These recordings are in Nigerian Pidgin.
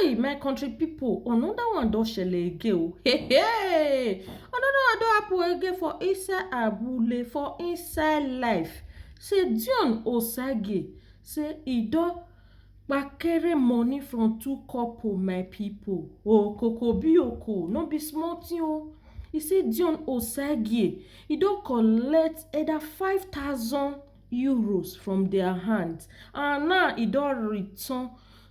Hey, my country people, another one don shele again o. Hey, hey, another one don happen again for inside Abule, for inside life. Say Dion Osage, say e don kpakere money from two couple, my people. Oh, koko bi oko, no be small thing o. E say Dion Osage, e don collect either five thousand euros from their hand and now e don return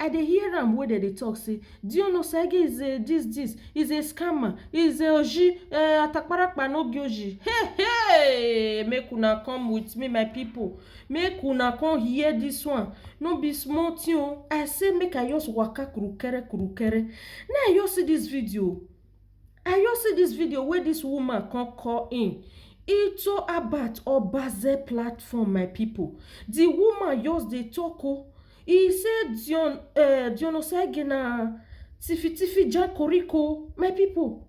I dey hear am wey dem dey talk say Dion Osagie is a this this, is a scammer, is a oji, eh, atakparakpa no be oji. Hey hey! Make una come with me my people. Make una come hear this one. No be small thing o. I say make I just waka kurukere kurukere. Na I just see this video. I just see this video wey this woman come call in into Abat Obaze platform my people. The woman just dey talk o. E say Dion eh Dion Osagie na tiffy tiffy jakoriko my people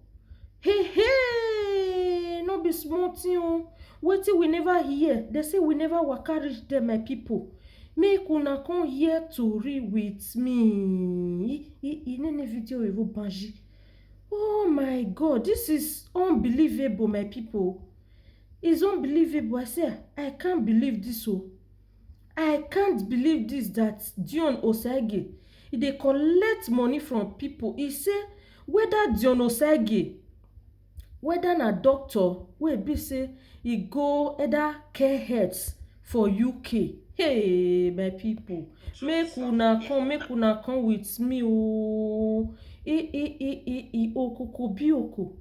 hey hey no be small thing o wetin we never hear dem say we never waka reach there my people make una come hear tori with me e e no need video oyibo banji oh my God this is unbelievable my people is unbelievable I say I can't believe this o. I can't believe this that Dion Osagie e dey collect money from people e say whether Dion Osagie whether na doctor wey e be say e go either care health for UK hey my people make una come make una come with me oo ee ee ee ee ee okoko bi oko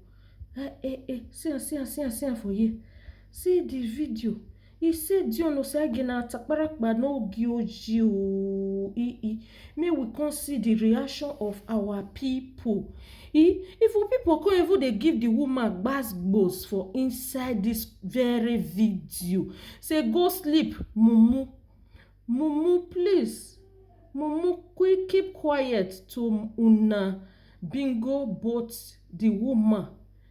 eh eh eh see am see am see am see am for here see the video He say Dion Osagie na atakparakpa no gi oji oo e e make we come see the reaction of our people e if we people come even dey give the woman gbas gbos for inside this very video say go sleep mumu mumu please mumu quick keep quiet to una bingo both the woman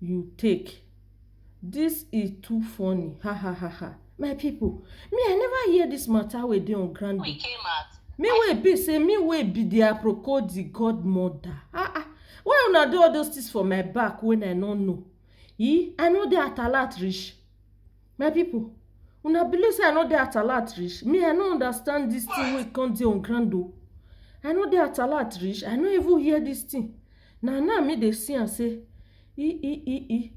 you take this is too funny ha ha ha ha my people me i never hear this matter wey dey on ground we came out me wey be say me wey be the aproko the godmother ah ah why una do all those things for my back when i no know e i no dey at alert reach my people una believe say i no dey at alert reach me i no understand this thing wey come dey on ground o i no dey at alert reach i no even hear this thing Na now me dey see am say e e e e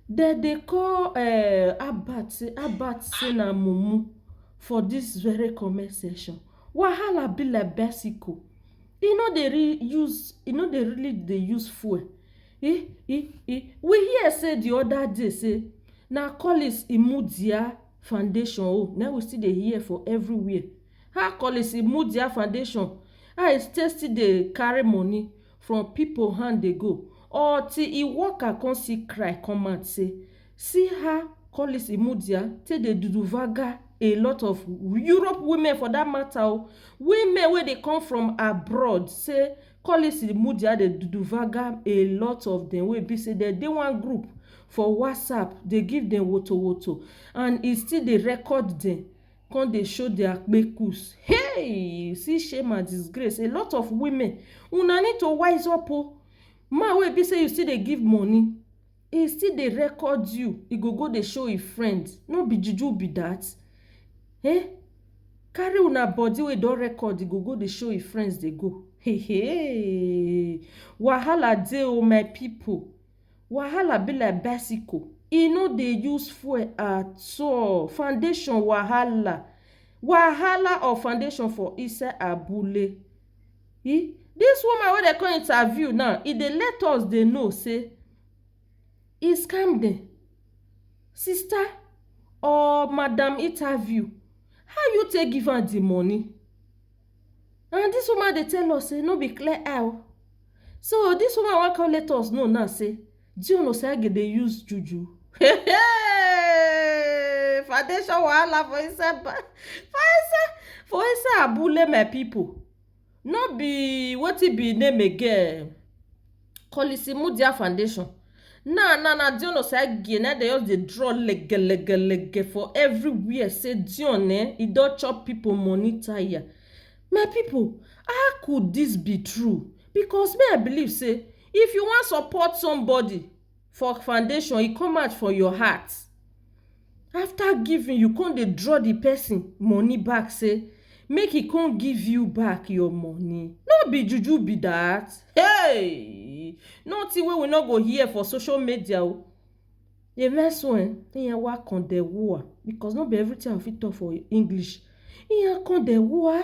dem dey call um Albert say Albert say na mumu for this very comment section. Wahala be like bicycle, e no dey really use e no dey really dey use fuel e e e we hear say the other day say na Collins Imudia foundation own na im we still dey hear for everywhere. How Collins Imudia foundation how e take still dey carry money from pipo hand dey go or till e worker come see cry come out say see how Collins Imudia take dey duduvaga a lot of Europe women for that matter o women wey dey come from abroad say Collins Imudia dey duduvaga a lot of dem wey be say dem dey one group for WhatsApp dey give dem wotowoto and e still dey record dem come dey show their kpekus hey see shame and disgrace a lot of women una need to wise up o oh. man wey be say you still dey give money he still dey record you he go go dey show him friend no be juju be that eh carry una body wey don record he go go dey show him friends dey go hey hey wahala dey o oh my people Wahala be like bicycle, e no dey use fuel at all. Foundation wahala, wahala of foundation for inside abule. E dis woman wey dem come interview now, e dey let us dey know sey e scam dem. Sister or madam interview, how you take give am de money? And this woman dey tell us say no be clear eye o. So this woman wan come let us know now say John Osagie dey use juju. Hey, foundation wahala for inside ba- for inside for inside abule my people. No be wetin be name again. Kolisi Mudia Foundation. Now, now, now, Dion Osage, now they just dey draw lege, lege, lege for everywhere. Say Dion, eh, he don chop people money tire. My people, how could this be true? Because me, I believe, say, if you wan support somebody, for foundation e come out for your heart after giving you come dey draw the person money back say make e come give you back your money no be juju be that hey nothing wey we no go hear for social media o amen so eh iya wa kan de wua because no be everything i fit talk for english iya kan de wua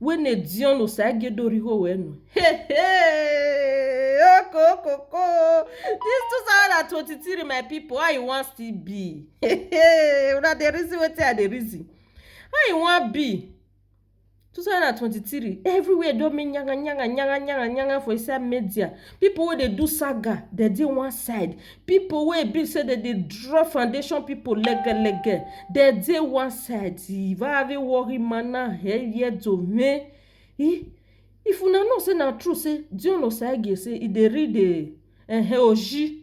wene dion osagedorihowo enu hey hey okokoko this 2023 my people how e wan still be hey hey una dey reason wetin i dey reason how e wan be 2023 everywhere don make nyanga nyanga nyanga nyanga nyanga for inside media people wey dey do saga dey dey one side, people wey e be sey dem dey draw foundation people lege lege dem dey one side um very worry manner heavy head to me um if una know sey na true sey John Osagie sey e dey read um um oji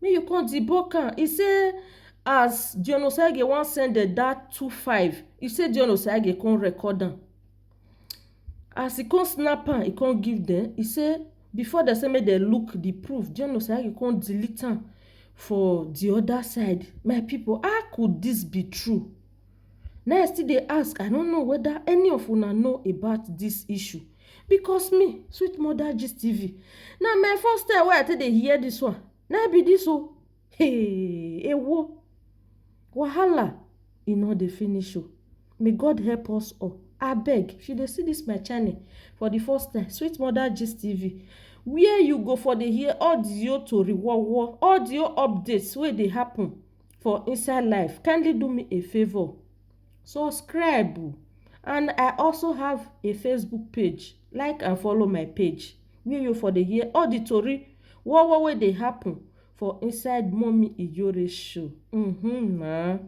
make you come debunk am e say as John Osagie wan send dem that two five e say John Osagie come record am as e come snap am e come give dem e say before dem say make dem look the proof John Osagie come delete am for the other side my people how could this be true na I still dey ask I no know whether any of una know about this issue because me sweet mother gist tv na my first time wey i take dey hear this one na be this o hey ewo wahala e no dey finish o may god help us all abeg if you dey see this my channel for the first time sweet mother gist tv where you go for dey hear audio tori wowo audio updates wey dey happen for inside life kindly do me a favour subscribe um and i also have a facebook page like and follow my page wey you for dey hear all the tori war war wey dey happen for inside mummy ijore show um na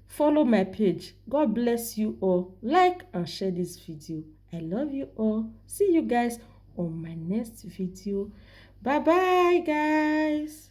follow my page god bless you all like and share this video i love you all see you guys on my next video bye bye guys